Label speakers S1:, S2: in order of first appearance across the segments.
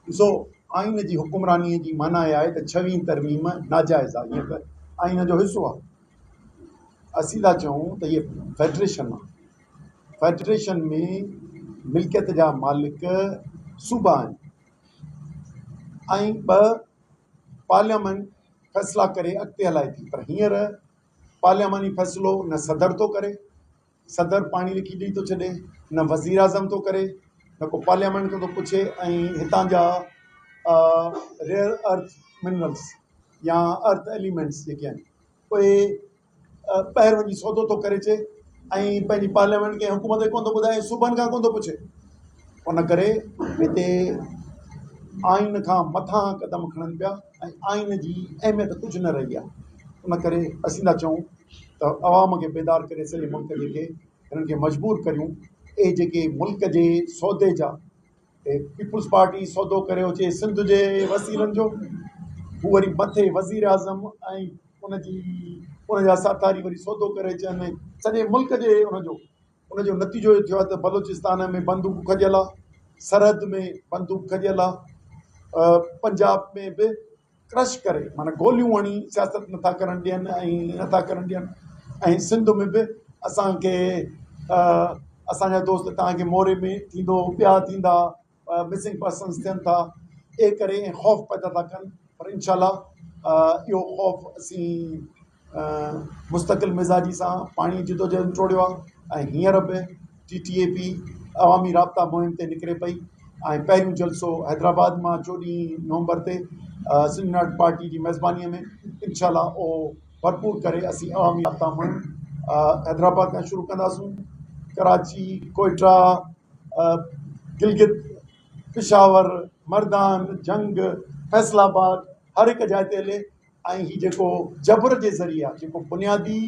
S1: ڏسو، آئين جي حڪمرانيء جي معنيٰ اها آهي ته ڇوين ترميم ناجائز آهي، هيء به آئين جو حصو آهي. اسين ٿا چئون ته هيء فيڊريشن آهي. فيڊريشن ۾ ملڪيت جا مالڪ صوبا آهن ۽ ٻه پارليامينٽ فيصلا ڪري اڳتي هلائي ٿي پر هينئر پارلياماني فيصلو نه صدر ٿو ڪري صدر پاڻي لکي ڏئي ٿو ڇڏي، نه وزيراعظم ٿو ڪري، نه ڪو پارليامينٽ کان ٿو پڇي ۽ هتان جا ريئر ارٿ منرلس يا ارٿ ايليمينٽس جيڪي آهن اهي ٻاهر وڃي سودو ٿو ڪري اچي ۽ پنهنجي پارليامينٽ کي حڪومت کي ڪونه ٿو ٻڌائي ۽ صوبن کان ڪونه ٿو پڇي ان ڪري هتي آئين کان مٿان قدم کڻن پيا ۽ آئين جي اهميت ڪجهه نه رهي آهي ان ڪري اسين ٿا چئون ته عوام کي بيدار ڪري سڄي ملڪ جي کي هنن کي مجبور ڪريون اهي جيڪي ملڪ جي سودي جا پيپلز پارٽي سودو ڪري اچي سنڌ جي وسيلن جو هو وري مٿي وزير اعظم ۽ ان جي ان جا ساٿاري وري سودو ڪري اچن سڄي ملڪ جي ان جو ان جو نتيجو اهو ٿيو آهي ته بلوچستان ۾ بندوق کڄيل آهي، سرحد ۾ بندوق کڄيل آهي، پنجاب ۾ به ڪرش ڪري معنيٰ گوليون هڻي سياست نه ٿا ڪرڻ ڏين ۽ نه ٿا ڪرڻ ڏين ۽ سنڌ ۾ به اسان کي اسان جا دوست تهان جي موري ۾ ٿيندو ٻيا ٿيندا مسنگ پرسنز ٿين ٿا اي ڪري ۽ خوف پيدا ٿا ڪن پر انشاء الله اهو خوف اسين مستقل مزاجي سان پاڻي جدوجهد ٽوڙيو آهي ۽ هينئر به ٽي ٽي اي پي عوامي رابطا مهم تي نڪري پئي ۽ پهريون جلسو حيدرآباد مان چوڏهين نومبر تي سنڌ ناٽ پارٽي جي ميزبانيء ۾ انشاء الله اهو ڀرپور ڪري اسين عوامي رابطا مهم حيدرآباد کان شروع ڪنداسون ڪراچي ڪوئٽا گلگت، پشاور، مردان، جنگ، فيصل آباد هر هڪ جاء تي هلي ۽ هي جيڪو جبر جي ذريعي آ جيڪو بنيادي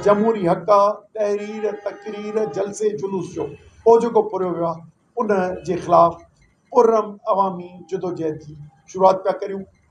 S1: جمهوري حق آ تحرير تقرير جلسي جلوس جو او جيڪو پورهيو ويو آ ان جي خلاف پرعمل عوامي جدوجهد جي شروعات پيا ڪريون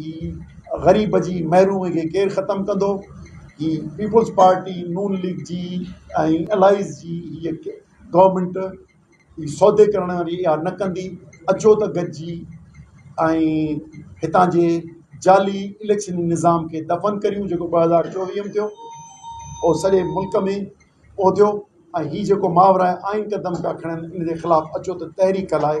S1: هي غريب جي محرومي کي ڪير ختم ڪندو؟ هي پيپلز پارٽي، نون ليگ جي ۽ الائيز جي هيء گورنمينٽ هي سودي ڪرڻ واري اها نه ڪندي. اچو ته گڏجي ۽ هتان جي جعلي اليڪشن نظام کي دفن ڪريون جيڪو ٻه هزار چوويهه ۾ ٿيو او سڄي ملڪ ۾ اهو ٿيو ۽ هي جيڪو ماورائي آئين قدم پيا کڻن ان جي خلاف اچو ته تحريڪ هلائي